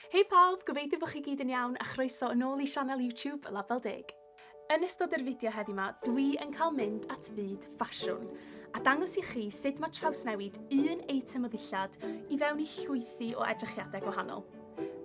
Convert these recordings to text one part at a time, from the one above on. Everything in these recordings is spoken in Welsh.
Hei pawb, gobeithio bod chi gyd yn iawn a chroeso yn ôl i sianel YouTube Label Deg. Yn ystod yr fideo heddi ma, dwi yn cael mynd at fyd ffasiwn a dangos i chi sut mae trawsnewid un eitem o ddillad i fewn i llwythi o edrychiadau gwahanol.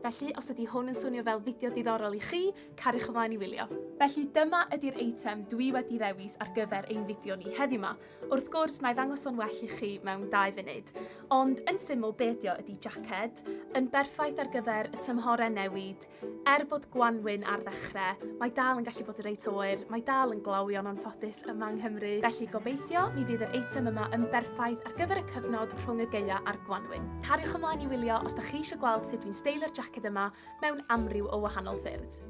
Felly, os ydy hwn yn swnio fel fideo diddorol i chi, cariwch ymlaen i wylio. Felly dyma ydy'r eitem dwi wedi ddewis ar gyfer ein fideo ni heddi ma, Wrth gwrs, na i ddangos o'n well i chi mewn dau funud, ond yn syml be ydi o ydi jacket, yn berffaith ar gyfer y tymhore newid, er bod gwanwyn ar ddechrau, mae dal yn gallu bod reit oer, mae dal yn glawion o'n ffodus yma yng Nghymru, felly gobeithio mi fydd yr eitem yma yn berffaith ar gyfer y cyfnod rhwng y geia a'r gwanwyn. Cariwch ymlaen i wylio os da chi eisiau gweld sut dwi'n steilio'r jacket yma mewn amryw o wahanol ffyrdd.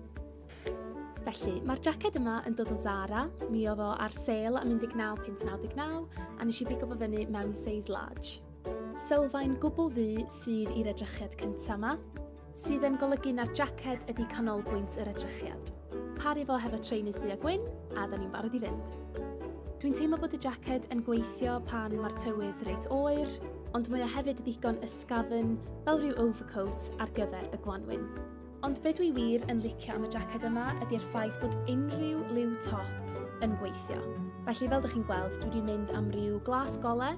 Felly, mae'r jacket yma yn dod o Zara, mi oedd o ar sale am 19.99 a nes i bigo fo fyny mewn size large. Sylfaen gwbl ddu sydd i'r edrychiad cyntaf yma, sydd yn golygu na'r jacket ydy canolbwynt yr edrychiad. Paru fo hefo trainers du a gwyn, a da ni'n barod i fynd. Dwi'n teimlo bod y jacket yn gweithio pan mae'r tywydd reit oer, ond mae o hefyd ddigon ysgafn fel rhyw overcoat ar gyfer y gwanwyn. Ond be dwi wir yn licio am y jacket yma ydy'r ffaith bod unrhyw liw top yn gweithio. Felly fel ydych chi'n gweld, dwi wedi mynd am ryw glas gole,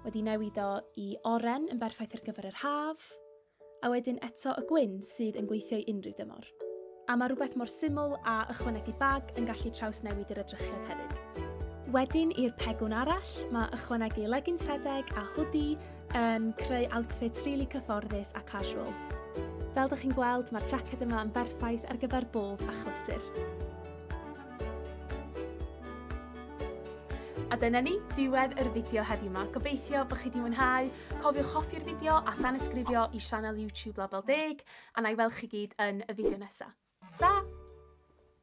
wedi newid o i oren yn berffaith ar gyfer yr haf, a wedyn eto y gwyn sydd yn gweithio i unrhyw dymor. A mae rhywbeth mor syml a ychwanegu bag yn gallu traws newid yr edrychiad hefyd. Wedyn i'r pegwn arall, mae ychwanegu legins rhedeg a hwdi yn creu outfits rili really cyfforddus a casual. Fel ydych chi'n gweld, mae'r jacket yma yn berffaith ar gyfer bob achlysur. A dyna ni, diwedd yr fideo heddiw yma. Gobeithio bod chi wedi mwynhau. Cofiwch hoffi'r fideo a thanysgrifio i sianel YouTube Label Deg, a na i weld chi gyd yn y fideo nesaf. Ta!